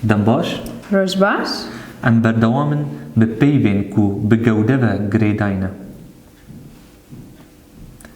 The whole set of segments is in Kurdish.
Dem baş. Roj baş. Em berdewam in bi peyvên ku bi gewde ve girêdayne.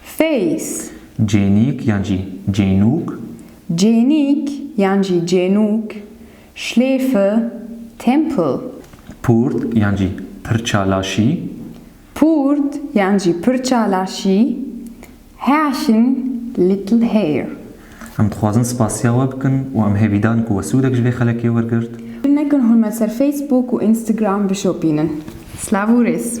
Face. Cênîk yan jî cênûk. Cênîk yan jî cênûk, Schläfe, Tempel. Purt yan jî pirça laşî. Purt yan jî pirça laşî, Häschen, little hair. Em dixwazin spasiya we bikin û em hêvî dan ku we sûdek ji vê xelekê wergirt. Bil nekin hûn me ser Facebook û Instagram bişopînin. Slav û rêz.